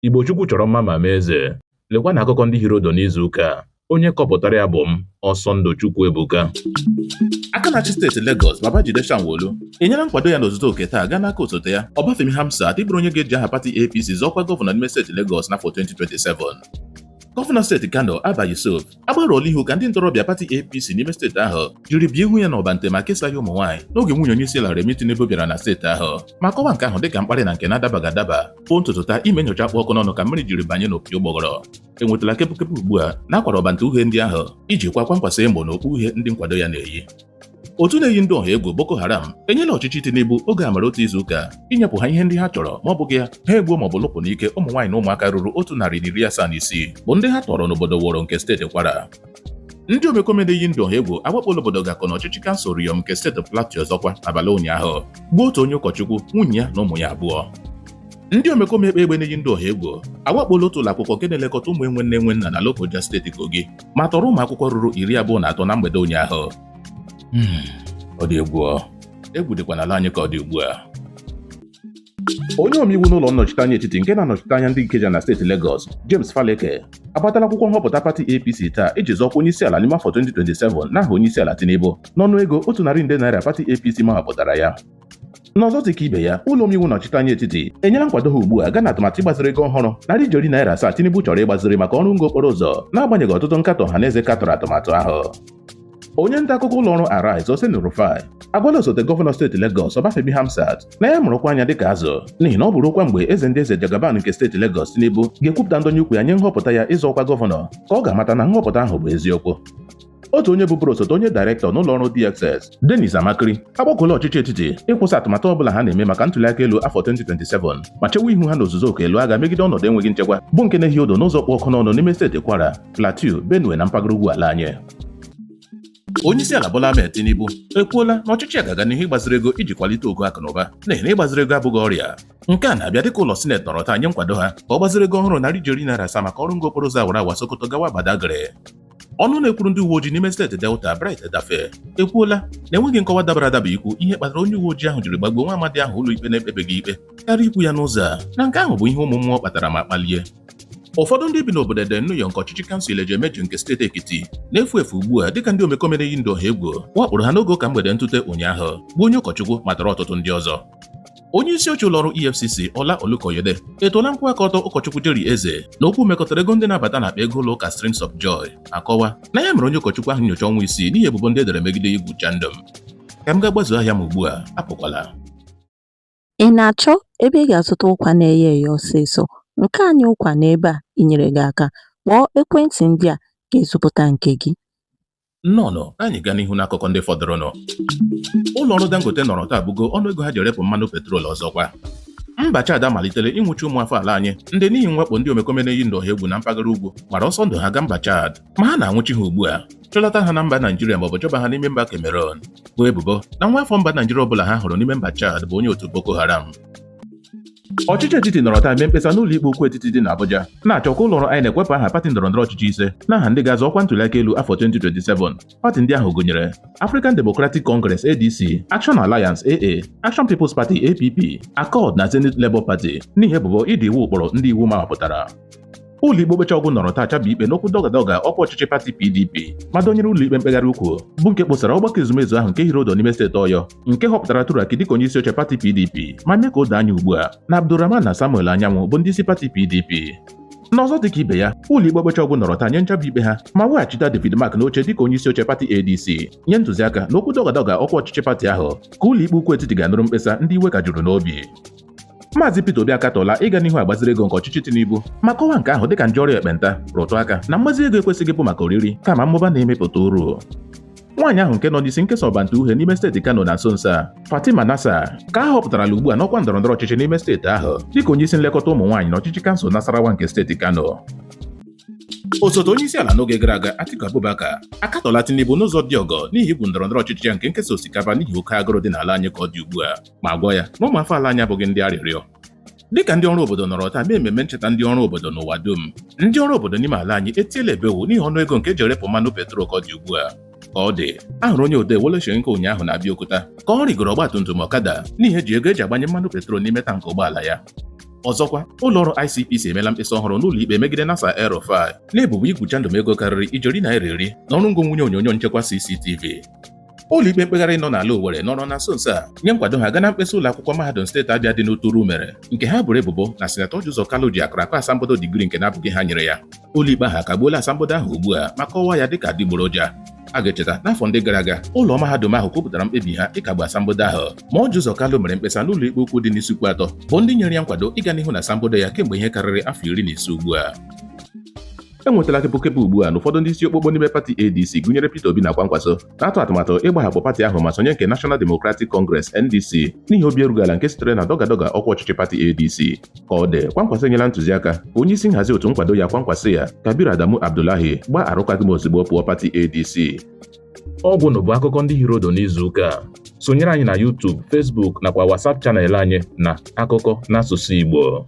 Igbo Chukwu chọrọ mma ma mee eze. Lekwa na akụkọ ndị hiri odo n'izu ụka a. Onye kọpụtara ya bụ m, Ọsọndụ Chukwuebuka. aka na-achị steeti Lagos Babajide Sanwo-Olu enyela nkwado ya n'ozuzu oke taa gaa n'aka osote ya Obafemi Hamzat ịbụrụ onye ga-eji aha pati APC zọọ ọkwa gọvanọ n'ime steeti Lagos n'afọ 2027 gọvanọ steeti Kano Abba Yusuf agbarụọla ihu ka ndị ntorobịa pati APC n'ime steeti ahụ jiri bie ihu ya n'ọbante ma kesaa ya ụmụ nwaanyị n'oge nwunye onye isi ala Remi Tinubu bịara na steeti ahụ ma kọwa nke ahụ dịka mkparị na nke na-adabaghị adaba n'ụtụtụ taa ime nyocha kpụ ọkụ n'ọnụ ka mmiri jiri banye n'opi ụgbọgụrụ enwetala kepụkepụ ugbu a na a kwara ọbante uhie ndị ahụ iji kwaa Kwankwaso emo na okpu uhie ndị nkwado ya na-eyi otu na-eyi ndị ọha egwu Boko Haram enyela ọchịchị Tinubu oge amara otu izu ụka inyepụ ha ihe ndị ha chọrọ ma ọ bụghị ya ha egbuo maọbụ lụpụ n'ike ụmụ nwaanyị na ụmụaka ruru otu narị na iri asaa na isii bụ ndị ha tọrọ n'obodo Woro nke steeti Kwara ndị omekome na-eyi ndụ ọha egwu awakpola obodo Gako na ọchịchị kansụl Riyom nke steeti Plateau ọzọkwa n'abalị ụnyaahụ gbuo otu onye ụkọchukwu nwunye ya na ụmụ ya abụọ ndị omekome ekpe egbe na-eyi ndị ọha egwu awakpola otu ụlọ akwụkwọ nke na-elekọta ụmụ enwe nne enwe nna na Lokoja steeti Kogi ma tọrọ ụmụ akwụkwọ ruru iri abụọ na atọ na mgbede ụnyaahụ hmm, ọ dị egwu egwu dịkwa n'ala anyị ka ọ dị ugbu a onye omeiwu n'ụlọ nnọchiteanya etiti nke na-anọchite anya ndị Ikeja na steeti Lagos James Faleke agbatala akwụkwọ nhọpụta pati APC taa iji zọọ ọkwa onye isi ala n'ime afọ 2027 n'aha onye isi ala Tinubu n'ọnụ ego otu narị nde naira pati APC mahọpụtara ya N'ọzọ dị ka ibe ya, ụlọ omeiwu nnọchite anya etiti enyela nkwado ha ugbu a gaa na atụmatụ ịgbaziri ego ọhụrụ narị ijeri naira asaa Tinubu chọrọ ịgbaziri maka ọrụ ngo okporo ụzọ n'agbanyeghị ọtụtụ nkatọ ọha na eze katọrọ atụmatụ ahụ onye nta akụkọ ụlọ ọrụ Arise Oseni Rufai agwala osote gọvanọ steeti Lagos Obafemi Hamzat na ya mụrụkwa anya dịka azụ n'ihi na ọ bụrụkwa mgbe eze ndị eze Jagaban nke steeti Lagos Tinubu ga-ekwupụta ndọnye ukwu ya nye nhọpụta ya ịzọ ọkwa gọvanọ ka ọ ga-amata na nhọpụta ahụ bụ eziokwu otu onye bụburu osote onye dairektọ n'ụlọ ọrụ DSS Dennis Amachree agbakọla ọchịchị etiti ịkwụsị atụmatụ ọbụla ha na-eme maka ntuliaka elu afọ 2027 ma chewe ihu ha n'ozuzu oke ịlụ agha megide ọnọdụ enweghị nchekwa bụ nke na-ehi odo n'ụzọ kpụ ọkụ n'ọnụ n'ime steeti Kwara Plateau Benue na mpaghara ugwu ala anyị onyeisiala Bola Ahmed Tinubu ekwuola na ọchịchị ya ga-aga n'ihu ịgbaziri ego iji kwalite ogo akụ na ụba n'ihi na ịgbaziri ego abụghị ọrịa nke a na-abịa dịka ụlọ sineti nọrọ taa nye nkwado ha ka ọ gbaziri ego ọhụrụ narị ijeri naira asaa maka ọrụ ngo okporo ụzọ awara awa Sokoto gawa Badagry ọnụ na-ekwuru ndị uwe ojii n'ime steeti Delta Bright Edafe ekwuola na enweghị nkọwa dabara adaba ikwu ihe kpatara onye uwe ojii ahụ jiri gbagbuo nwa amadi ahụ ụlọikpe na-ekpebeghị ikpe karịa ikwu ya n'ụzọ a na nke ahụ bụ ihe ụmụ mmụọ kpatara ma kpalie ụfọdụ ndị bi n'obodo Eda Oniyo nke ọchịchị kansụl Ilejemeje nke steeti Ekiti na-efu efu ugbu a dịka ndị omekome na-eyi ndụ ọha egwu wakporo ha n'oge ụka mgbede ntụte ụnyaahụ gbuo onye ụkọchukwu ma tọrọ ọtụtụ ndị ọzọ onye isi oche ụlọọrụ EFCC Ola Olukoyede etoola nkwụwa aka ọtọ ụkọchukwu Jerry Eze na okwu mekọtara ego ndị na-abata n'akpa ego ụlọ ụka Streams of Joy akọwa na ya mere onye ụkọchukwu ahụ nyocha ọnwa isii n'ihi ebubo ndị e dere megide igwu chandum ka m gaa gbazuo ahịa m ugbu a apụkwala ị na-achọ ebe ị ga-azụta ụkwa na-eye eye ọsịsọ nke anyị ụkwa nọ ebe a inyere gị aka kpọọ ekwentị ndị a ga-ezipụta nke gị Nnọọnụ, ka anyị gaa n'ihu n'akụkọ ndị fọdụrụnụ. Ụlọ ọrụ Dangote nọrọ taa bugo ọnụ ego ha ji erepụ mmanụ petrol ọzọkwa. Mba Chad amalitela ịnwụchi ụmụafọ ala anyị ndị n'ihi mwakpo ndị omekome na-eyi ndụ ọha egwu na mpaghara ugwu gbara ọsọ ndụ ha gaa mba Chad ma ha na-anwụchi ha ugbu a chọlata ha na mba Naijiria maọbụ chọba ha n'ime mba Cameroon boo ebubo na nwa afọ mba Naijiria ọbụla ha hụrụ n'ime mba Chad bụ onye otu Boko Haram Ọchịchị etiti nọrọ taa mee mkpesa n'ụlọ ikpe ukwu etiti dị n'Abuja na-achọ ka ụlọ ọrụ INEC wepụ aha pati ndọrọ ndọrọ ọchịchị ise n'aha ndị ga-azọ ọkwa ntụliaka elu afọ 2027. Pati ndị ahụ gụnyere African Democratic Congress ADC, Action Alliance AA, Action People's Party APP, Accord na Zenith Labour Party n'ihi ebubo ịda iwu ụkpụrụ ndị iwu mawapụtara. Ụlọikpe okpecha ọgwụ nọrọ taa chabie ikpe n'okwu dọgadọga ọkwa ọchịchị pati PDP ma dọnyere ụlọikpe mkpegharị ukwu bụ nke kposara ọgbakọ ezumezu ahụ nke hiri ọdụ n'ime steeti Ọyọ nke họpụtara Turaki dịka onye isi oche pati PDP ma mee ka o doo anya ugbu a na Abdulrahman na Samuel Anyanwụ bụ ndị isi pati PDP n'ọzọ dịka ibe ya ụlọikpe okpecha ọgwụ nọrọ taa nye nchabi ikpe ha ma weghachita David Mark n'oche dịka onye isi oche pati ADC nye ntụziaka na okwu dọgadọga ọkwa ọchịchị pati ahụ ka ụlọikpe ukwu etiti ga-anụrụ mkpesa ndị iwe ka juru n'obi Maazị Peter Obi akatọla ịga n'ihu agbaziri ego nke ọchịchị Tinubu ma kọwaa nke ahụ dịka nje ọrịa ekpenta rụtụ aka na mgbazi ego ekwesịghị bụ maka oriri kama mmụba na-emepụta uru nwaanyị ahụ nke nọ n'isi nkesa ọbante uhie n'ime steeti Kano na nso nso a Fatima Nasser ka a họpụtarala ugbu a n'ọkwa ndọrọndọrọ ọchịchị n'ime steeti ahụ dịka onye isi nlekọta ụmụ nwaanyị na ọchịchị kansụl Nasarawa nke steeti Kano osote onye isi ala n'oge gara aga Atiku Abubakar akatọla Tinubu n'ụzọ dị ọkụ n'ihi igwu ndọrọndọrọ ọchịchị ya nke nkesa osikapa n'ihi oke agụrụ dị n'ala anyị ka ọ dị ugbu a ma gwa ya na ụmụafọ ala anyị abụghị ndị arịrịọ dịka ndị ọrụ obodo nọrọ taa mee ememme ncheta ndị ọrụ obodo n'ụwa dum ndị ọrụ obodo n'ime ala anyị etiela ebewu n'ihi ọnụ ego nke e ji erepụ mmanụ petrol ka ọ dị ugbu a ka ọ dị a hụrụ onye odee Wole Soyinka ụnyaahụ na Abeokuta ka ọ rịgoro ọgbatumtum ọkada n'ihi ejighị ego e ji agbanye mmanụ petrol n'ime tankị ụgbọala ya ọzọkwa ụlọọrụ ICPC emeela mkpesa ọhụrụ n'ụlọ ikpe megide Nasir El Rufai n'ebubo igwu chandum ego karịrị ijeri naira iri na ọrụ ngo nwụnye onyonyo nchekwa CCTV ụlọikpe mkpegharị nọ n'ala Owerri nọrọ na nso nso a nye nkwado ha gaa na mkpesa ụlọ akwụkwọ mahadum steeti Abịa dị n'Uturu mere nke ha boro ebubo na sinetọ Ọji Ụzọ Kalụ ji akụrụ akụ asambodo digrii nke na-abụghị ha nyere ya ụlọikpe ahụ akagbuola asambodo ahụ ugbu a ma kọwaa ya dịka adịgboroja a ga-echeta n'afọ ndị gara aga ụlọ mahadum ahụ kwupụtara mkpebi ha ịkagbu asambodo ahụ ma Ọji Ụzọ Kalụ mere mkpesa n'ụlọ ikpe ukwu dị n'Isuikwuatọ bụ ndị nyere ya nkwado ịga n'ihu na asambodo ya kemgbe ihe karịrị afọ iri na ise ugbu a enwetala kepụkepụ ugbu a na ụfọdụ ndị isi okpokpo n'ime pati ADC gụnyere Peter Obi na Kwankwaso na-atụ atụmatụ ịgbahapụ pati ahụ ma sonye nke National Democratic Congress NDC n'ihi obi erughị ala nke sitere na dọgadọga ọkwa ọchịchị pati ADC ka ọ dị Kwankwaso enyela ntụziaka ka onye isi nhazi otu nkwado ya Kwankwasiyya Kabir Adamu Abdullahi gbaa arụkwaghịm ozugbo pụọ pati ADC ọgwụ na bụ akụkọ ndị hiri ụdụ n'izu ụka a sonyere anyị na YouTube, Facebook nakwa WhatsApp channel anyị na akụkọ n'asụsụ Igbo